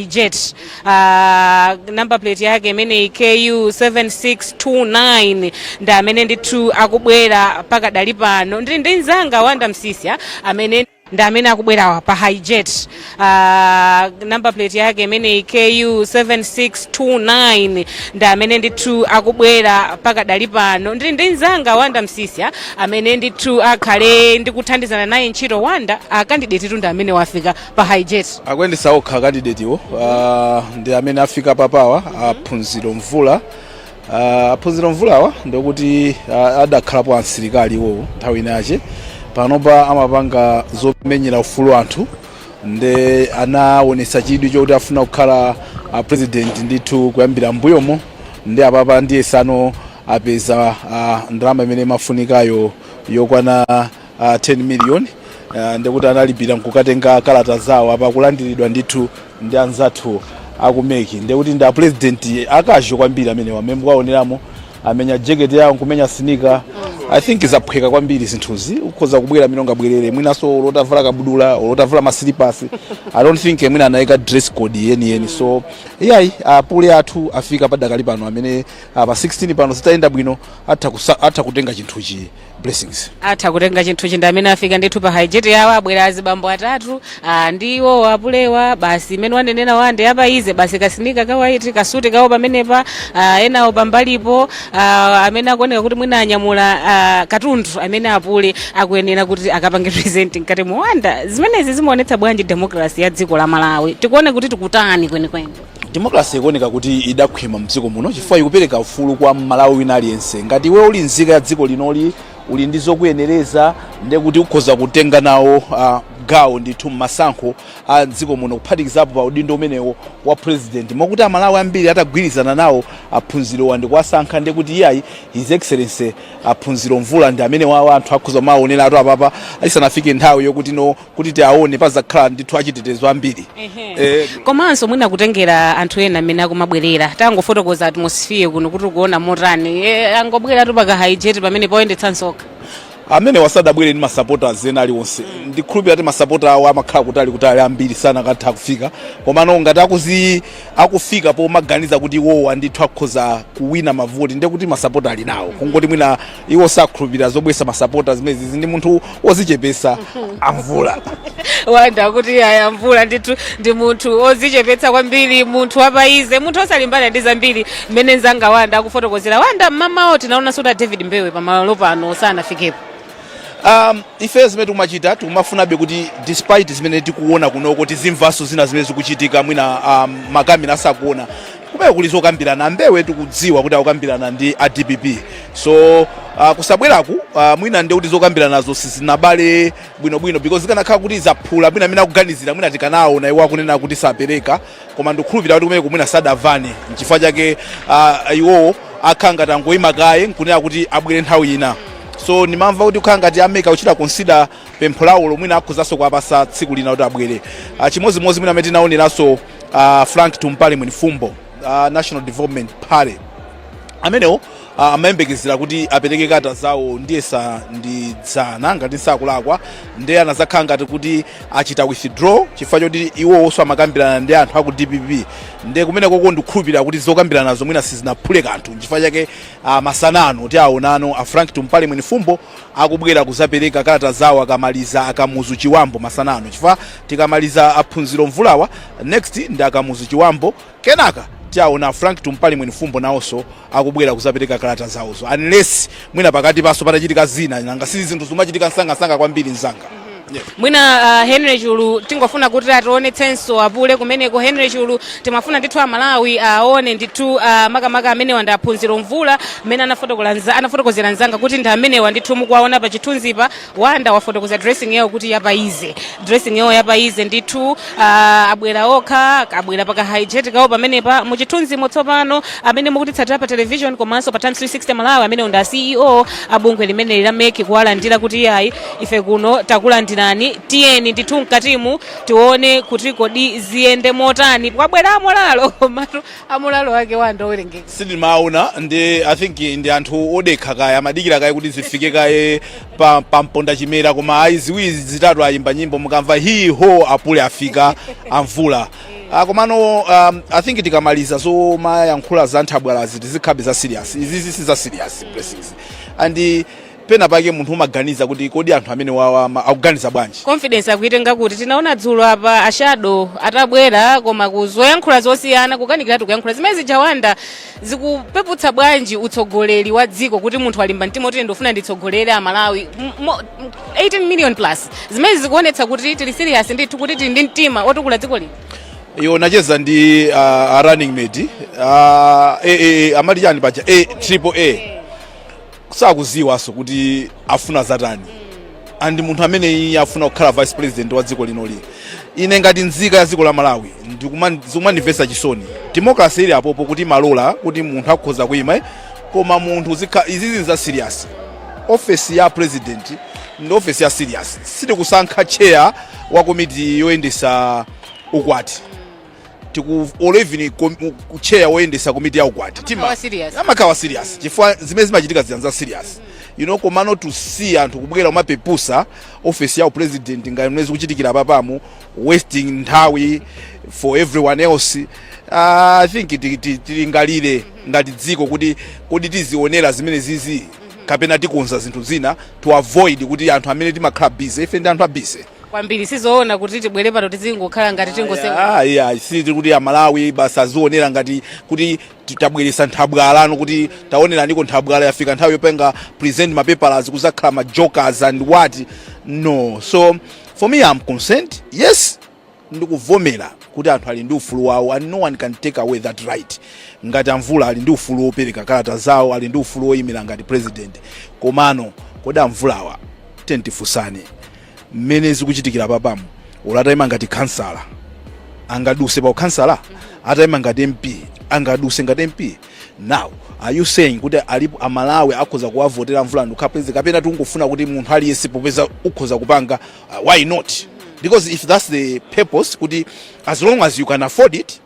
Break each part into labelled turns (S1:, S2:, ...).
S1: jet uh, number plate yake imeneyi ku 7629 ndi amene ndithu akubwera pakadali pano ndili ndi mzanga wanda msisya amene ndi amene akubwera pa hijet uh, number plate yake imeneyi ku 7629 ndi amene ndithu akubwera pakadali pano ndili ndi mzanga wanda msisya amene ndithu akhale ndikuthandizana naye ntchito wanda akandidetitu ndi amene wafika pa hijet akuyendetsa
S2: okha kandidetiwo uh, ndi amene afika papawa aphunziro mvula uh, aphunziro mvulawa ndikuti uh, adakhalapo asilikali iwowo nthawi inache panopa amapanga zomenyera ufulu wa anthu nde anaonetsa chidwi chokuti afuna kukhala uh, president ndithu kuyambira mbuyomo ndi apapa ndiye tsano apeza uh, ndalama imene imafunikayo yokwana uh, 10 million uh, ndikuti analipira nkukatenga kalata zawo apa kulandiridwa ndithu ndi anzathu aku MEC ndikuti ndi apurezidenti akajo kwambiri mmene wamene waoneramo amenya jeketi yawo nkumenya sinika i think zaphweka kwambiri zinthuzi ukhoza kubwera mmene ungabwerere mwinanso olo utavala kabudula olo utavala masilipasi i don't think mwina anayika dress code yeniyeni so iyayi apule athu afika padakali pano amene ah, pa 16 pano zitayenda bwino atha kusa- atha kutenga chinthuchi blessings atha kutenga
S1: chinthuchi ndi amene afika ndithu pa haijeti yawo abwera azibambo atatu ah, ndi iwowo apulewa basi mmene wanenera wanda apa ize basi kasinika kawaiti kasuti kawo pamenepa ah, enawo pambalipo ah, amene akuoneka kuti mwina anyamula ah, katundu amene apule akuyenera kuti akapange present mkatimu wanda zimenezi zimaonetsa bwanji demokrasi ya dziko la malawi tikuone kuti tikutani kwenikweni democracy
S2: ikuoneka kuti idakhwima mdziko muno chifukwa ikupereka ufulu kwa mmalawi wina aliyense ngati iwe uli nzika ya dziko linoli uli ndi zokuyenereza nde kuti ukhoza kutenga nawo uh, gawo ndithu mmasankho a mdziko muno kuphatikizapo pa udindo umenewo wa president mwakuti amalawi ambiri atagwirizana nawo aphunzirowa ndi kuwasankha nde kuti iyayi his excellency aphunziro mvula ndi amenewa anthu akhoza kumawaoneratu apapa isanafike nthawi yokuti no kuti tiwaone pazakhala ndithu achitetezo ambiri Eh,
S1: komanso mwina kutengera anthu ena amene akumabwerera tangofotokoza atmosphere kuno kuti ukuona motani e, angobweratu pakahaijeti pamene poyendetsanso okha
S2: amenewa sadabwere ndi masapota ena aliwonse ndikhulupira kuti masapota awo amakhala kutali kutali ambiri sakanatha kufika komano ngati akuzi akufika pomaganiza kuti iwowa ndithu akhoza kuwina mavoti ndekuti masapota ali nawo kungoti mwina iwo sakhulupirira zobwesa masapota zimenezi ndi munthu wozichepesa amvula
S1: wanda kuti aya mvula ndithu ndi munthu ozichepetsa kwambiri munthu wapaize munthu osalimbana ndi zambiri mmene nzanga wanda akufotokozera wanda mmamawo tinaonanso kuti a david mbewe pamalopano sanafikepo
S2: um, ife zimene tikumachita tikumafunabe kuti despite zimene tikuona kunoko tizimvanso zina zimene zikuchitika mwina um, makamera asakuona kumene kuli zokambirana a mbewe tikudziwa kuti akukambirana ndi a dpp so uh, kusabweraku uh, mwina nde kuti zokambiranazo sizinabale bwinobwino because zikanakhala kuti zaphula mwina amene akuganizira mwina tikanaona iwo akunena kuti sapereka koma ndikukhulupirira kuti kumeneku mwina sadamvane nchifukwa chake uh, iwowo akhala ngati angoyima kaye nkunena kuti abwere nthawi ina so ndimamva kuti kukhala ngati a MEC a kuchita consider pempho lawo lomwe akhozaso kuwapasa tsiku lina kuti abwere Ah, chimodzimodzi mwina amene tinaoneranso uh, frank tumpale mwenifumbo a national development party amenewo uh, amayembekezera kuti apereke kalata zawo ndiyesa ndi dzana ngati sindikulakwa nde anazakhala ngati kuti achita withdraw chifukwa choti iwowonso amakambirana ndi anthu aku dpp nde kumenekoko ndikukhulupirira kuti zokambiranazo mwina sizinaphule kanthu nchifukwa chake uh, masana ano tiwaonano a frank tumpale mwenifumbo akubwera kuzapeleka kalata zawo akamaliza a kamuzu chibambo masana ano chifukwa tikamaliza a phunziro mvulawa next ndi a kamuzu chibambo kenaka tiwaona frank tumpale mwenifumbo nawonso akubwera kuzapereka kalata zawozo unless mwina pakatipanso patachitika zina nanga si zinthu zimachitika msangamsanga kwambiri mzanga mwina
S1: uh, henry chulu tingofuna kuti ationetsenso apule kumeneko henry chulu timafuna ndithu amalawi aone ndithu uh, makamaka amenewa ndi a phunziro mvula mmene anafotokola nza- anafotokozera nzanga kuti ndi amenewa ndithu mukuwaona pa chithunzipa wanda wafotokoza dressing yawo kuti yapaize dressing yawo yapaize ndithu uh, abwera okha abwera pa ka hijet kawo pamenepa mu chithunzimo tsopano amene mukutitsatira pa television komanso pa times 360 malawi amenewo ndi a ceo a bungwe limeneli la MEC kuwalandira kuti iyayi ife kuno takulandirani tiyeni ndithu mkatimu tione kuti kodi ziyende motani kwabwera a moralo komatu a moralo ake wanda owerengeka sindimaona ndi
S2: i think ndi anthu odekha kaye amadikira kaye kuti zifike kaye pa, pa mponda chimera koma ayi ziwiri zitatu ayimba nyimbo mukamva hi ho apule afika a mvula Ah, komano um, i think tikamaliza zomayankhula za nthabwalazi tizikambe za serious izizi si za serious blessings and Pena pake munthu umaganiza kuti kodi anthu amenewa amaganiza bwanji? Confidence akuitenga
S1: kuti? Tinaona dzulo apa a Shadow atabwera koma kuzayankhula zosiyana kukanikiratu kuyankhula zimenezija Wanda zikupeputsa bwanji utsogoleri wa dziko kuti munthu walimba mtima kuti ndifuna nditsogolere a Malawi M- mo- m- 18 million plus zimene zikuonetsa kuti tili serious ndithu kuti tili ndi mtima otukula dziko lino. Iwo ndacheza
S2: ndi uh, a running mate uh, eh, eh, amati chani paja eh, triple A sakuziwaso kuti afuna zatani and ndi munthu amene iye afuna kukhala vice president wa dziko lino eti ine ngati nzika ya dziko la malawi ndikuma- zikumandimvesa chisoni democracy ili apopo kuti timalola kuti munthu akhoza kuima eh, koma munthu zikha- izizi nza serious ofesi ya president ndi ofesi ya serious sitikusankha chair wa komiti yoyendesa ukwati or even kom- u- u- chair woyendesa komiti ya ukwati amakhala ti- serious amakhala serious chifukwa zimene zimachitika zija za serious you know komano to see anthu kubwera kumapepusa office ya upresident ngati mmene zikuchitikira papamu wasting nthawi for everyone else Ah, i think ti- ti- tilingalire ngati dziko kuti kodi tizionera zimene zizi kapena tikonza zinthu zina to avoid kuti anthu amene timakhala busy ife ndi anthu a busy kwambiri
S1: sizoona kuti tibwere pano tizingokhala ngati tingoseka ayi ayi siti kuti
S2: amalawi basi azionera ngati kuti ti- tabweresa nthabwala pano kuti taoneraniko nthabwala yafika nthawi yopanga present mapepalazi kuzakhala ma jokers and what no so for me am concerned yes ndikuvomera kuti anthu ali ndi ufulu wawo and no one can take away that right ngati amvula ali ndi ufulu wopereka kalata zawo ali ndi ufulu woyimira ngati president komano kodi amvulawa tiyeni tifunsane mmene zikuchitikira apapamu olo atayima ngati khansala angaduse pa ukhansala atayima ngati mp angaduse ngati mp now are you saying kuti alipo amalawi akhoza kuwavotera mvula ndikukhala president kapena tikungofuna kuti munthu aliyense popeza ukhoza kupanga uh, why not because if that's the purpose kuti as long as you can afford it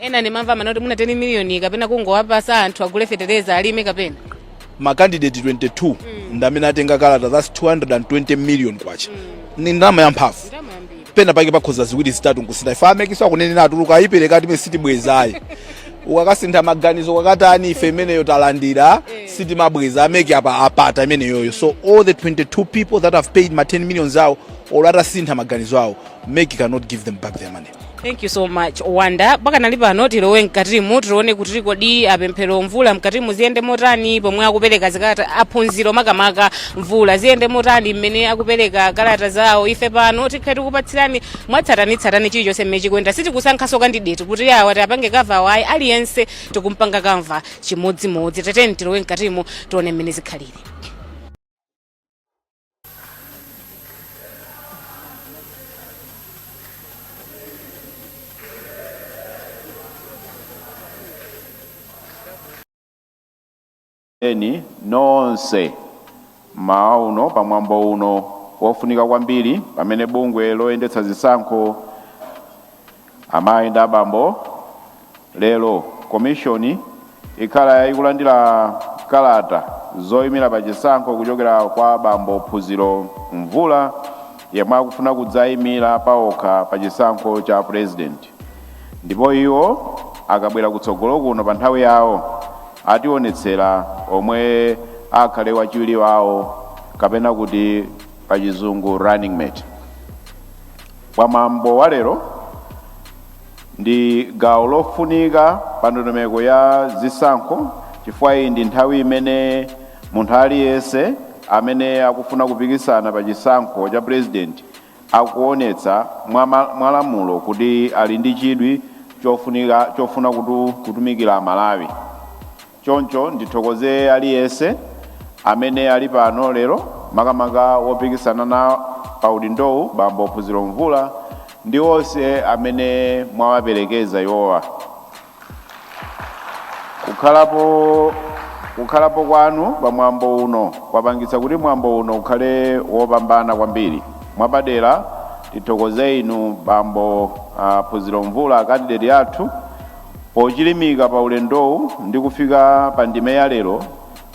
S1: ena ndimamva mawu oti muna 10 miliyoni kapena kungowapasa anthu agule fetereza alime kapena
S2: makandidate 22 ndi amene atenga kalata that's 220 million kwacha ni ndalama yamphamvu pena pake pakhoza ziwiri zitatu nkusintha ife a MEC akunena atuluka ayipereka imene sitibwezayi ukakasintha maganizo kwakatani ife imeneyo talandira sitimabweza a MEC apa apata imeneyoyo so all the 22 people that have paid ma 10 millions awo or atasintha maganizo awo MEC cannot give them back their money thank you so
S1: much wonder pakanali pano tilowe mkatimu tione kuti kodi apemphero mvula mkatimu ziyende motani pomwe akupereka zikalata aphunziro makamaka mvula ziyende motani mmene akupereka kalata zawo ife pano tikhala tikupatsirani mwatsatanitsatani chilichonse mmene chikuyenda sitikusankhaso kandideti kuti awa tiapange cover ayi aliyense tikumpanga cover chimodzimodzi tiyeni tilowe mkatimu tione mmene zikhalire
S3: inu nonse mmawa uno pa mwambo uno wofunika kwambiri pamene bungwe loyendetsa zisankho Amayi ndi abambo, lero Komishoni ikhala ikulandira kalata zoyimira pa chisankho kuchokera kwa abambo Phunziro Mvula yemwe akufuna kudzayimira paokha pa chisankho cha Purezidenti ndipo iwo akabwera kutsogolo kuno pa nthawi yawo atiwonetsera omwe akhale wachiwiri wawo kapena kuti pa chizungu running mate. Mwambo wa lero ndi gawo lofunika pa ndondomeko ya zisankho chifukwa iyi ndi nthawi imene munthu aliyense amene akufuna kupikisana pa chisankho cha purezidenti akuonetsa mwalamulo kuti ali ndi chidwi chofunika chofuna kutu, kutumikira Malawi. Choncho ndithokoze aliyense amene ali pano lero, makamaka wopikisana na paudindowu bambo Phunziro Mvula ndi onse amene mwawaperekeza iwowa. Kukhalapo, kukhalapo kwanu pa mwambo uno kwapangitsa kuti mwambo uno ukhale wopambana kwambiri. Mwapadera ndithokoze inu bambo ah, Phunziro Mvula akandideti athu Pochilimika pa ulendowu ndi kufika pa ndime ya lero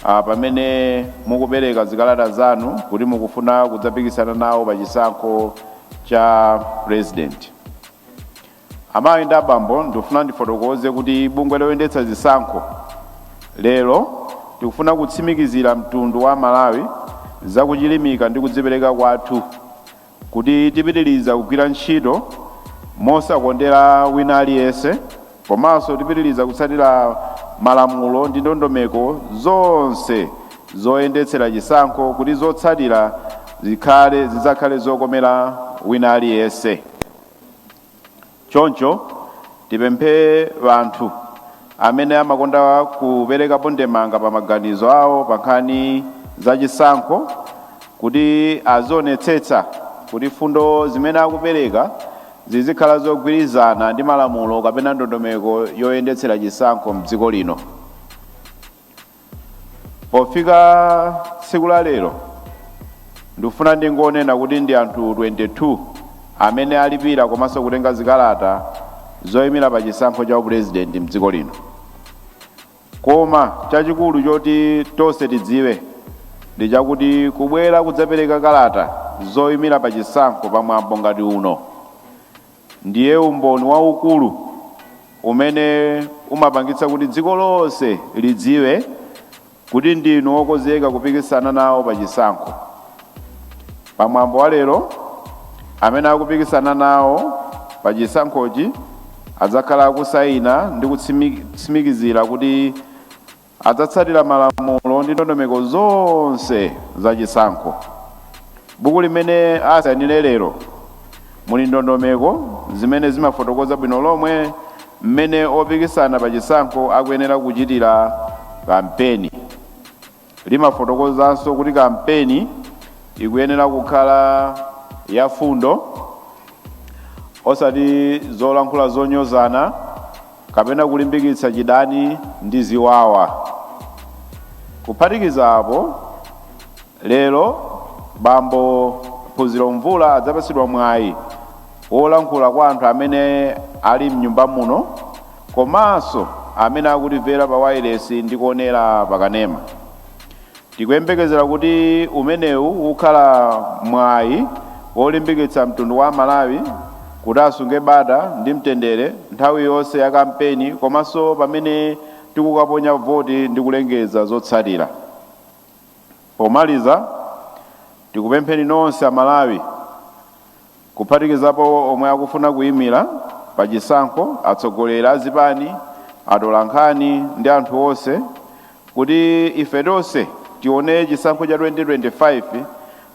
S3: a pamene mukupereka zikalata zanu kuti mukufuna kudzapikisana nawo pa chisankho cha pulezidenti. Amayi ndi abambo ndikufuna ndifotokoze kuti bungwe loyendetsa zisankho lero tikufuna kutsimikizira mtundu wa Amalawi za kuchilimika ndi kudzipereka kwathu kuti tipitiliza kugwira ntchito mosakondera wina aliyense komanso tipitiliza kutsatira malamulo ndi ndondomeko zonse zoyendetsera chisankho kuti zotsatira zikhale zidzakhale zokomera wina aliyense. Choncho tipemphe anthu amene amakonda kuperekapo ndemanga pa maganizo awo pa nkhani za chisankho kuti azionetsetsa kuti fundo zimene akupereka zizikhala zogwirizana ndi malamulo kapena ndondomeko yoyendetsera chisankho mdziko lino. Pofika tsiku la lero, ndikufuna ndingonena kuti ndi anthu 22 amene alipira komanso kutenga zikalata zoyimira pa chisankho cha upulezidenti m'dziko lino. Koma chachikulu choti tonse tidziwe ndi chakuti kubwera kudzapereka kalata zoyimira pa chisankho pa mwambo ngati uno, Ndiye umboni waukulu umene umapangitsa kuti dziko lonse lidziwe kuti ndinu wokonzeka kupikisana nawo pa chisankho. Pa mwambo wa lero, amene akupikisana nawo pa chisankhochi adzakhala akusayina ndi kutsimikizira kuti Adzatsatira malamulo ndi ndondomeko zonse za chisankho. Buku limene asainire lero muli ndondomeko zimene zimafotokoza bwino lomwe mmene opikisana pa chisankho akuyenera kuchitira kampeni. Limafotokozanso kuti kampeni ikuyenera kukhala ya mfundo osati zolankhula zonyozana. kapena kulimbikitsa chidani ndi ziwawa. Kuphatikiza apo, lero bambo Phunziro Mvula adzapatsidwa mwayi wolankhula kwa anthu amene ali m'nyumba muno komanso amene akutimvera pa wailesi ndi kuonera pa kanema. Tikuyembekezera kuti umenewu ukhala mwayi wolimbikitsa mtundu wa Amalawi kuti asunge bata ndi mtendere nthawi yonse ya kampeni komanso pamene tikukaponya voti ndi kulengeza zotsatira. Pomaliza, tikupempheni nonse Amalawi kuphatikizapo omwe akufuna kuyimira pa chisankho, atsogoleri a zipani, atolankhani ndi anthu onse kuti ife tonse tione chisankho cha 2025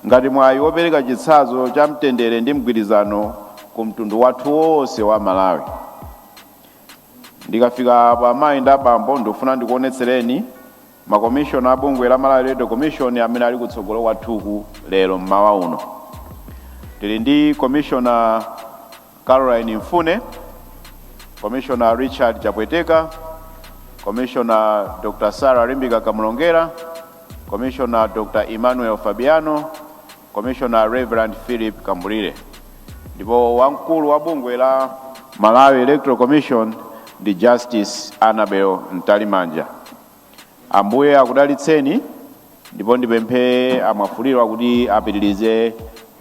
S3: ngati mwayi wopereka chitsanzo cha mtendere ndi mgwirizano ku mtundu wathu wonse wa Malawi. Ndikafika apo amayi ndi abambo ndikufuna ndikuonetsereni. Makomishona a bungwe la Malawi Electoral Commission amene ali kutsogolo kwathuku lero mmawa uno. Tili ndi Komishona Caroline Mfune, Komishona Richard Chapweteka, Komishona Dr. Sarah Limbika Kamlongera, Komishona Dr. Emmanuel Fabiano, Commissioner Rev. Phillip Kambulire ndipo wamkulu wa bungwe la Malawi Electoral Commission ndi Justice Annabel Mtalimanja. Ambuye akudalitseni ndipo ndipemphe a Mwafulirwa kuti apitirize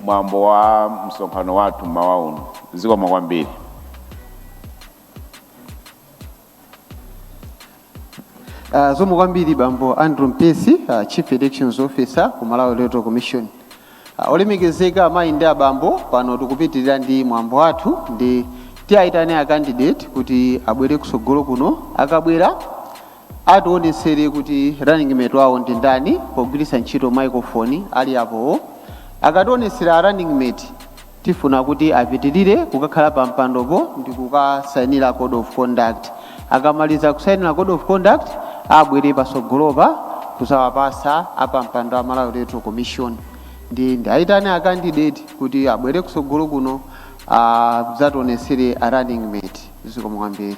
S3: mwambo wa msonkhano wathu mmawa uno. Zikomo kwambiri.
S4: Uh, zikomo kwambiri bambo Andrew Mpesi uh, Chief Elections Officer ku Malawi Electoral Commission uh, olemekezeka amayi ndi abambo pano tikupitirira ndi mwambo wathu ndi tiyayitane a candidate kuti abwere kusogolo kuno akabwera atiwonetsere kuti running mate wawo ndi ndani pogwiritsa ntchito microphone ali apowo akatiwonetsera a running mate Tifuna kuti apitilire kukakhala pa mpandopo ndi kukasainira code of conduct. Akamaliza kusainira code of conduct abwere pasogolopa kuzawapatsa apampando a Malawi Electoral Commission. Ndi ndiwaitane a candidate kuti abwere kusogolo kuno adzationesere a running mate. Zikomo kwambiri.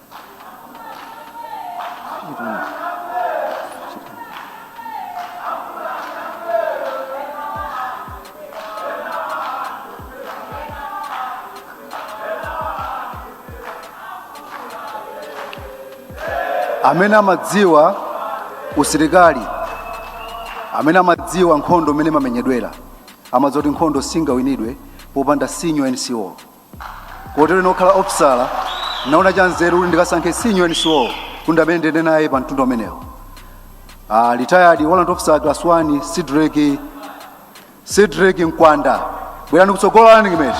S5: amene amadziwa usilikali amene amadziwa nkhondo mmene imamenyedwera amadziwa kuti nkhondo singawinidwe popanda senior NCO kotero ine okhala ofisala naona cha nzeru kuti ndikasankhe senior NCO kuti ndi amene ndiyende naye pa mtundu umenewo uh, retired warrant officer class 1 Cedric Cedric Mkwanda bwerani kutsogolo a running mate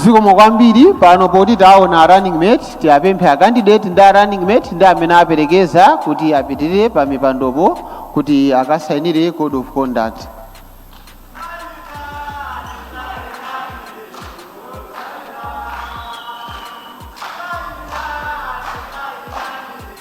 S4: zikomo kwambiri pano poti taona running mate tiwapemphe a candidate ndi a running mate ndi amene aperekeza kuti apitirire pa mipandopo kuti akasainire code of conduct